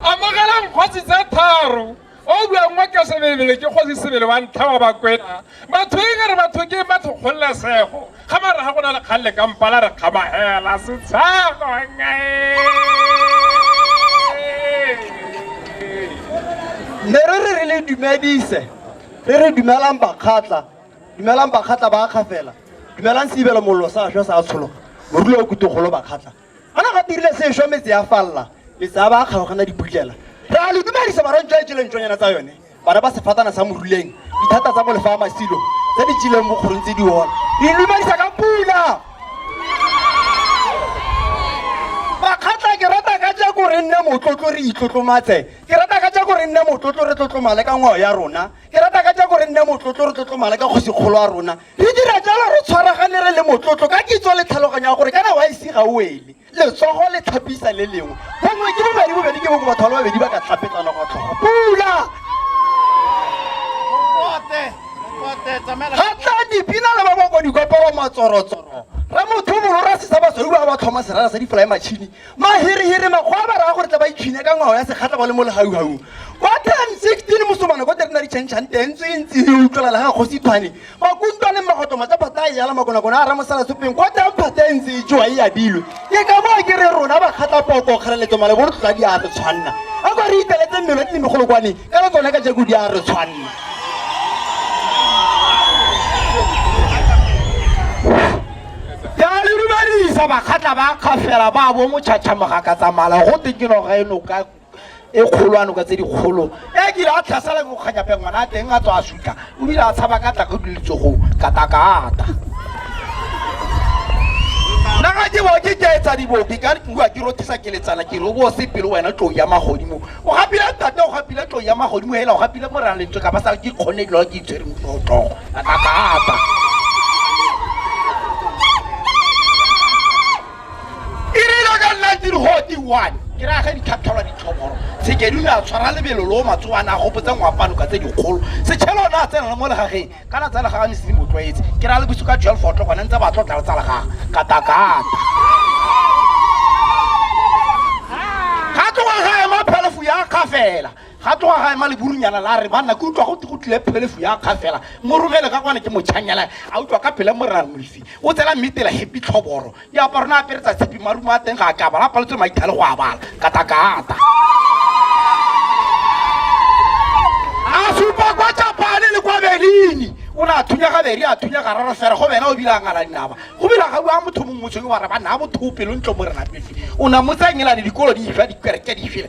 Amogelang kgosi tse tharo o buang wa ka sebebele ke kgosi sebele wa ntlha wa bakwena batho e re batho ke batho kgololesego ga mara ga go na le kgang le kampala re kgamagela setshego ne re re re le dumedise re re dumelang bakgatla dumelang bakgatla ba akgafela dumelang seibelo mollo sa šwa sa tshologa morulo o kutogolo bakgatla a na ga dirile sešwa metse ya falela metse a ba a kgaogana diputlela re a le dumedisa barang jwa jeleng tsonyana tsa yone bana ba sefatana sa moruleng dithata tsa molefa a masilo tse di jeleng bokgorong tse di ona re dumedisa ka pula makgatla ke rata ka jako re nne motlotlo re itlotlomatse ke rata ka jako re nne motlotlo re tlotlomale ka ngwao ya rona ke rata ka jako re nne motlotlo re tlotlomale ka kgosikgolo ya rona Re dira jalo re tshwaragane re le motlotlo ka kitso le tlhaloganyo ya gore kana wa ise ga o wele, letsogo le tlhapisa le lengwe, bongwe ke bobedi, bobedi ke bongwe, batho ba le babedi ba ka tlhapetsana kwa tlhogo. Pula! Ga tla dipina le ba ba kwa dikopelo matsorotsoro, Ramotho Molora Sesaba Sweu ba ba tlhoma serara sa difolaematšhini Mahirihiri makgwa ba raya gore tla ba itshwine ka ngwao ya sekgatla ba le mo legaugaung. Kwa 1016 mosomana ko terena di changchang teng ntse e ntse e utlwalala ga kgosi thwane makuntwa le magotomo tsa phata e yala makonakona a ramosala sopeng kwa teng phata e ntse e joa e abilwe ke ka moo ke re rona ba kgatla poko kgaleletso malebo re tlotla di a re tshwanna a kwa re iteletse mmelo tse megolokwane ka le tsone ka jako di a re tshwanna ya le dumedisa bakgatla ba kgafela ba bo motšhatšhamoga ka tsamala go teng ke noga eno ka e kgolwano ka tse dikgolo e kile a tlhasela ke mokganyapeng ngwana a teng a tswa a sutla o bile a tshaba ka tlako diletsogong katakata nna ga ke bo ke ke etsa dibobi ka nkuwa ke rothisa ke letsana ke re o bo o se pelo wena tlou ya magodimo O gapile tata o gapile tlo ya magodimo hela o gapile mo rang lentswe ka ba sa ke kgone dilo ke itshwere mo tlo tlo ka ka apa e re lo ka nna tiri ho ti one ke ra ga di thapthalwa di tlhoboro se ke di na tshwara lebelo lo matso ana go botsa ngwapano ka tse di kgolo se tshelo na tsena mo legageng Ka la tsala ga ne se mo tlwaetse. Ke ra le bosigo ka 12 o'clock gone ntse ba tlo tla tsala ga kata kata. Ga tloga ga ema phelefu ya kga fela. Ga tloga ga ema leburunyana la re banna ke utlwa go go tlile phelefu ya kga fela. Mo romele ka kwana ke mo chanyela. A utlwa ka pele mo rra Mmisi. O tsela mmitela happy tlhoboro. diaparo na apere tsa tshipi marumo a teng ga a kabala a paletswe maithale go a bala katakata a supa kwa japane le kwa berlini o ne a thunya ga beri a thunya ga rara fere go bena o bila ngala dinaba go bila ga bua motho mongwe motshweng wa re ba naa motho o pelo ntlo mo re lapetse o na motsanyelane dikolo di fa dikereke di fela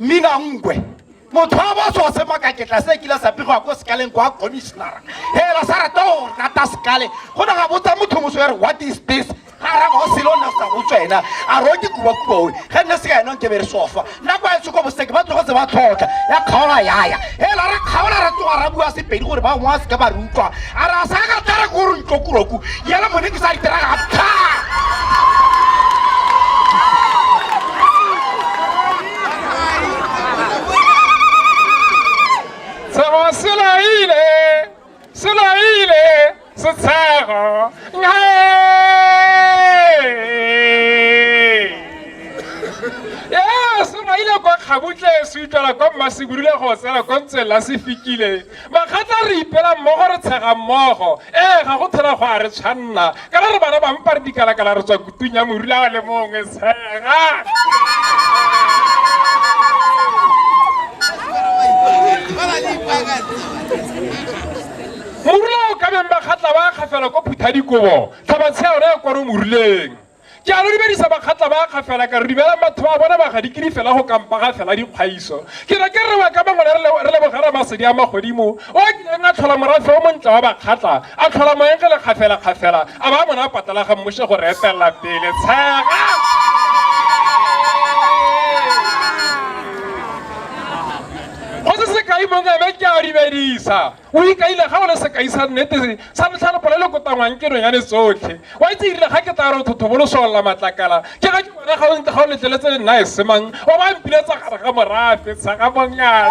Mmina Ngwe motho wa boso wa semakaketla se kile sa pegwa ko sekaleng kwa commissionera hela sa rata go nata sekale go na ga botsa motho moso ya re what is this ga ra go selo nna sa go tswena a ro ke kuba kuba o ga nne se ka ena ke bere sofa nako a tsoko boseke ba tlogo tse ba tlhoka ya khaola yaya Hela re kgaola re tsoga ra bua sepedi gore ba ngwa seka ba re utlwa a re a sa ka tlare ko re ntlokuroku yela mone ke sa itera ga tha Sebasela ile se laile setshego ee se laile kwa kgabutle se utlwela kwa mmasebudule go tsela ko ntse la se fikile makgatla re ipela mmogo re tshega mmogo ee ga go thela go a re tshwanna ka re bana ba mpa re dikalakala re tswa kutung ya morula wa le mongwe tshega morula o ka beng ba kgatla ba kgafela ko phutha dikobo tlhabatshea yone ya kwaro moruleng Ke a lo dumedisa bakgatla ba ga fela ka re dumelang batho ba bona ba ga dikiri fela go kampa ga fela dikgaiso. Ke ne ke re wa ka mangwele re le- re leboge Ramasedi a magodimo o a kileng a tlhola morafe o montle wa bakgatla, a tlhola moeng ge le kgafela kgafela, a ba a mona patala ga mmuše go re etelela pele. Tshega! Go se sekai mongwe ebe ke a dumedisa. O ikaile ga o le sekai sa nnete sa ntlha le polelo e kotangwang ke nonyane tsotlhe. Wa itse erile ga ke tlaa re o thothobolosolla matlakala, ke ga ke bona ga o ga o letleletse le nna esemang o ba mpiletsa gare ga morafe, Tshagabongane.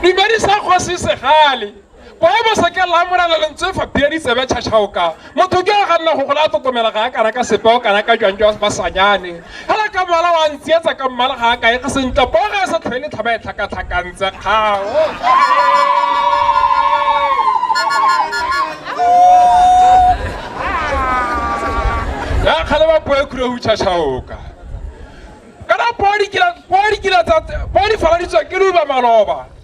Dumedisa kgosi Segale. Poebo se ke lamorela lentswe fa bia ditsebe tšhatšhaoka motho ke a ga nna go gola a totomela ga a kana ka sepe o kana ka jwang jwa basanyane fela ka moala wa ntsietsa ka mmala ga a kae ga sentle poo ga e sa tlhoe letlhaba e tlhakatlhakantse kgao ya kgale ba poe khure go tšhatšhaoka kana poo di faladitswa ke luba maloba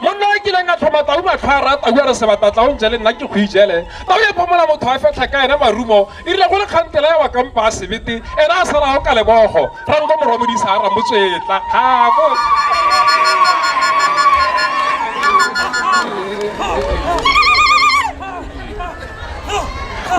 monna o kileng a tlhoma tau matlho a rata o re sebata tlaong jele nna ke go ijele tao ya phomola motho a fetlha ka ene marumo e rile go le kgantela ya wa kampa a sebete ene a sala go ka lebogo ranko moromodisa a ramotswetla gabo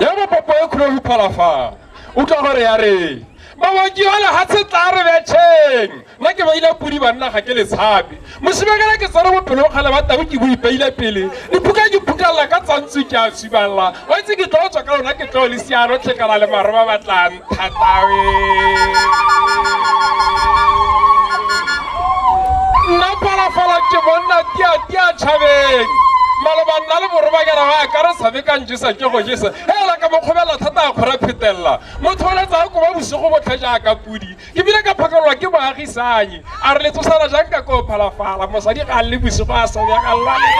ya bopopo e kgolo go phala fa utlwa gore ya re baoki ba lehatshe tla re betšheng nna ke baile podi banna ga ke le tshape mosibekela ke tsere bopelong kgale ba tau ke bo ipeile pele diphuka ke phukalela ka tsantswe ke a sibalela wa itse ke tlo tswa ka lona ke tlo le siano tlhekana le maro ba batlang thatawe nna phalafala ke bonna tiatia tšhabeng maloba nna le borobakela ba ka re tshabe ka njesa ke go jesa Hela ka mo kgobela thata a kgora phetelela mo tholetsa go ba bosigo botlhe jaaka pudi ke bile ka phakalelwa ke moagisanyi a re le tsosana jang ka ko phalafala mosadi ga a le bosigo a sa ya ga lwale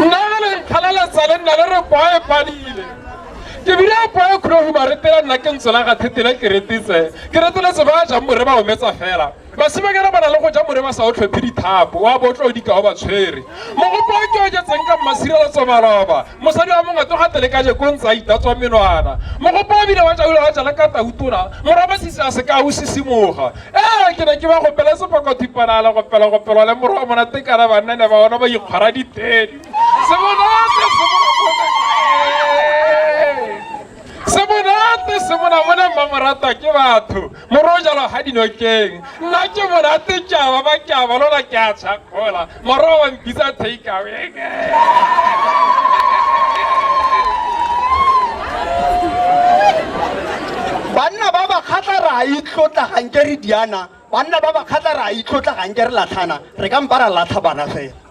nna le nkgalaletsa le nna le re kwae padile ke bile a poe kgolo go ba retela nna ke ntsela ga thetela ke retetse ke retele se ba jang more ba ometsa fela basimanyana ba na le go ja more ba sa o tlhophe dithapo wa bo tlo dikao ba tshwere mogopo o ke oketseng ka mmasireletso maloba mosadi wa mongwe tloga tele ka jeko ntse a itatswa menwana mogopo o bile wa jaula wa jala ka tautona moraba sise a se ka o sisimoga ee ke ne ke ba gopele sepakothipanala gopela gopelwa le morwa mona tekana bannane ba ona ba ikgwara ditedi Se monate, se monate. Se monate, se monate. Bona mma morata ke batho. Moro o jalo ha dinokeng. Nna ke monate ke a ba ba ke a ba lona ke a tshakgola. Moro wa mpitsa take away. banna ba ba kgatla re a itlotla ganke re diana banna ba ba kgatla re a itlotla ganke re latlhana re ka mpa ra latlha bana fela